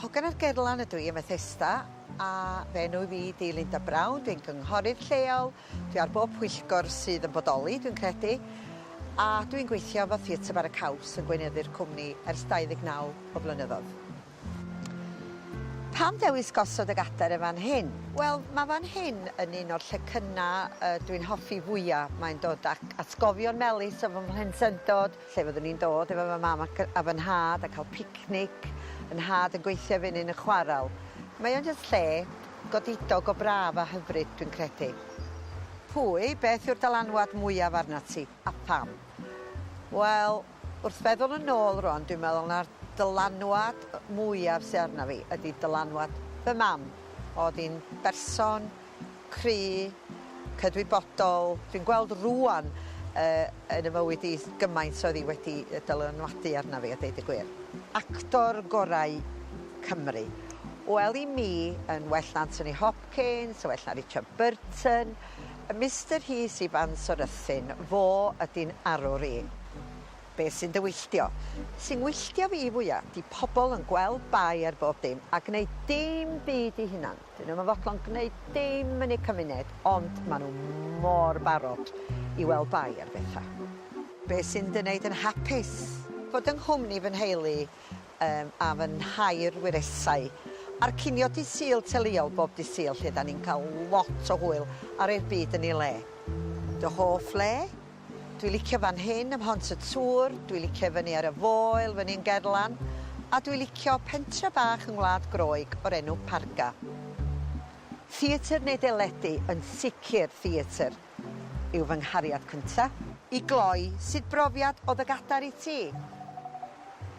Hogan ar Gerlan ydw i ym Methesda a fy enw fi 'di Linda Brown, dwi'n gynghorydd lleol, dwi ar bob pwyllgor sydd yn bodoli dwi'n credu, a dwi'n gweithio efo Theatr Bara Caws yn gweinyddu'r cwmni ers 29 o flynyddoedd. Pam dewis gosod y gadair yn fan hyn? Wel, mae fan hyn yn un o'r llecynnau yy dwi'n hoffi fwya', mae'n dod ac atgofion melys o fy mhlentyndod, lle fyddwn i'n dod efo fy mam ac a fy nhad a cael picnic, fy nhad yn gweithio efo un yn chwarel. Mae o'n jyst lle godidog o braf a hyfryd, dwi'n credu. Pwy, beth yw'r dylanwad mwyaf arnat ti, a pham? Wel, wrth feddwl yn ôl rwan, dwi'n meddwl na'r dylanwad mwyaf sy arna fi ydi dylanwad fy mam. O'dd 'i'n berson cry, cydwybodol. Dwi'n gweld rŵan yy yn y mywyd i gymaint oedd hi wedi yy dylanwadu arna fi a deud y gwir. Actor gorau Cymru. Wel i mi yn well na Anthony Hopkins, yn well na Richard Burton, yy Mister Rhys Ifans o Ruthun, fo ydy'n arwr i. Be' sy'n dy wylltio? Sy'n ngwylltio fi fwya 'di pobol yn gweld bai ar bob dim a gneud dim byd 'u hunan. 'Dyn nhw'm yn fodlon gneud dim yn eu cymuned ond ma' nhw mor barod i weld bai ar betha. Be' sy'n dy wneud yn hapus? Bod yng nghwmni fy nheulu yym a fy nhair wyresau a'r cinio dydd Sul teuluol bob dydd Sul lle 'dan ni'n ca'l lot o hwyl a rhoi'r byd yn ei le. Dy hoff le? Dwi licio fan hyn ym Mhont y Tŵr, dwi licio i fyny ar y Foel fyny yn Gerlan, a dwi licio pentre bach yng Ngwlad Groeg o'r enw Parga. Theatr neu deledu, yn sicr theatr yw fy nghariad cynta. I gloi, sut brofiad o dy gadair i ti?